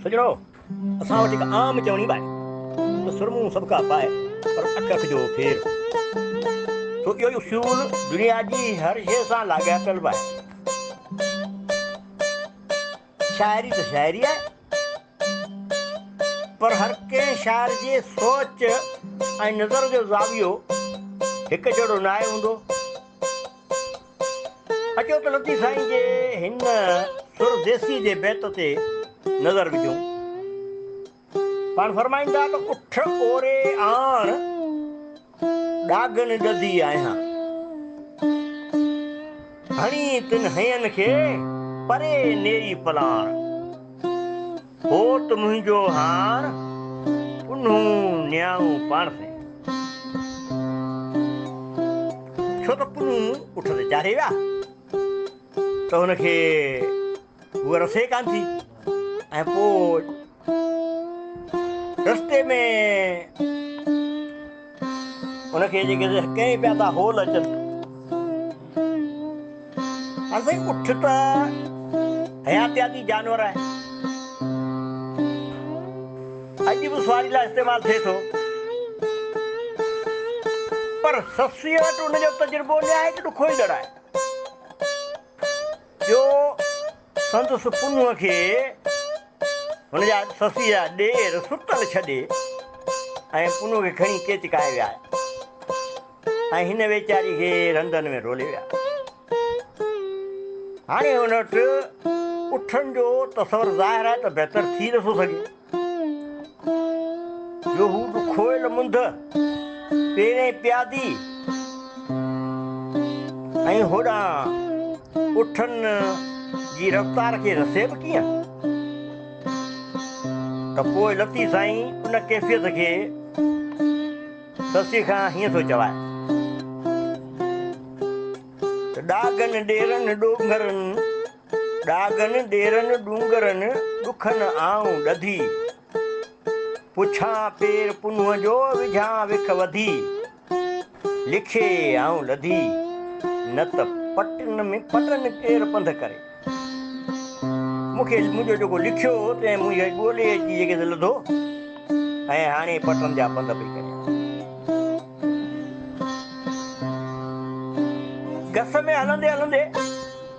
سڄڻو! اسان وٽ هڪ عام چوڻي به آهي ته سرمون سڀڪا پاء پر اک اک جو ڦير. سو اهو اصول دنيا جي هر شيء سان لاڳاپيل به آهي. شاعري ته شاعري آهي پر هر ڪنهن شاعر جي سوچ ۽ نظر جو زاويو هڪجهڙو ناهي هوندو. اچو ته لطيف سائين جي هن سر ديسي جي بيت تي نظر وجهون. پاڻ فرمائين ٿا ته اٺ اوري آڻ ڏاگهن ڏڌي آهيان. هڻي تن هين کي پري نيئي پلاڻ. هوت منهنجو هار ڪنهون نياڻو پاڻ سين. ڇو ته ڪنهون اٺ تي چاڙهي ويا ته هن کي هوء رسي ڪانه ٿي ۽ پوء رستي ۾ هن کي جيڪي ڪئين پيا ٿا هول اچن. هاڻ سائين اٺ ته حياتياتي جانور آهي. اڄ به سواري لاء استعمال ٿئي ٿو. پر سسئيء وٽ ان جو تجربو نهايت ڏکوئيندڙ آهي. ٻيو سندس پنهونء کي هن جا سسيء جا ڏير ستل ڇڏي ۽ پنهونء کي کڻي ڪيچڪائي ويا ۽ هن ويچاري کي رندن ۾ رولي ويا. هاڻي هن وٽ اٺن جو تصور ظاهر آهي ته بهتر ٿي نٿو سگهي. جو هو به کوهيل منڌ پيرين پيادي ۽ هوڏانهن اٺن جي رفتار کي رسي به ڪيئن ته پوء لطيف سائين ان ڪيفيت کي سسي کان هيئن ٿو چوائي ته ڏاگن ڏيرن ڏونگرن ڏاگهن ڏيرن ڏونگرن ڏکن آئون ڏڌي، پڇان پير پنهون جو وجهان وک وڌي، لکي آئون لڌي، نه ته پٽن ۾ پٽن ڪير پنڌ ڪري، مون کي منهنجو جيڪو لکيو هو تنهن منهنجي ڳولي اچي جيڪي سي لڌو ۽ هاڻي پٽن جا پنڌ پئي ڪريان. گس ۾ هلندي هلندي.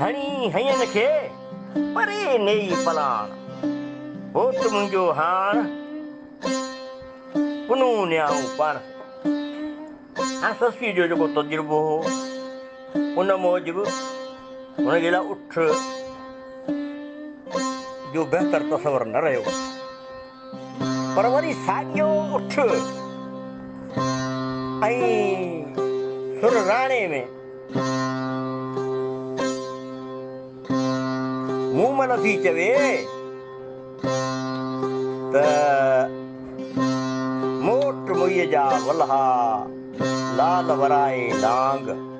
هڻي هيئن کي پري نيئي پلاڻ. هوت منهنجو هاڻ پنهون نياڻو پڻ. هاڻ سسئي جو جيڪو تجربو هو ان موجب هن جي لاء اٺ جو بهتر تصور نه رهيو. پر وري ساڳيو اٺ ۽ سر راڻي ۾. مون مھل ٿي چوي ته موٽ مئي جا ولھا لال ورائي لانگ.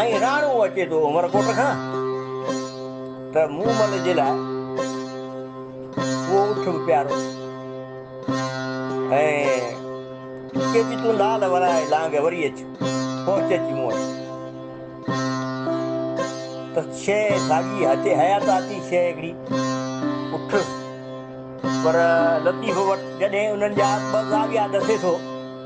۽ راڻو اچي ٿو عمرڪوٽ کان ته مون مل جي لاء اهو اٺ به پيارو ۽ چئي ٿي تون لال ورائي لانگهه وري اچ پهچ اچي مون وٽ ته شيء ساڳي هتي حيات آتي شيء هڪڙي اٺ پر لطيف وٽ جڏهن انهن جا ٻه زاويا ڏسي ٿو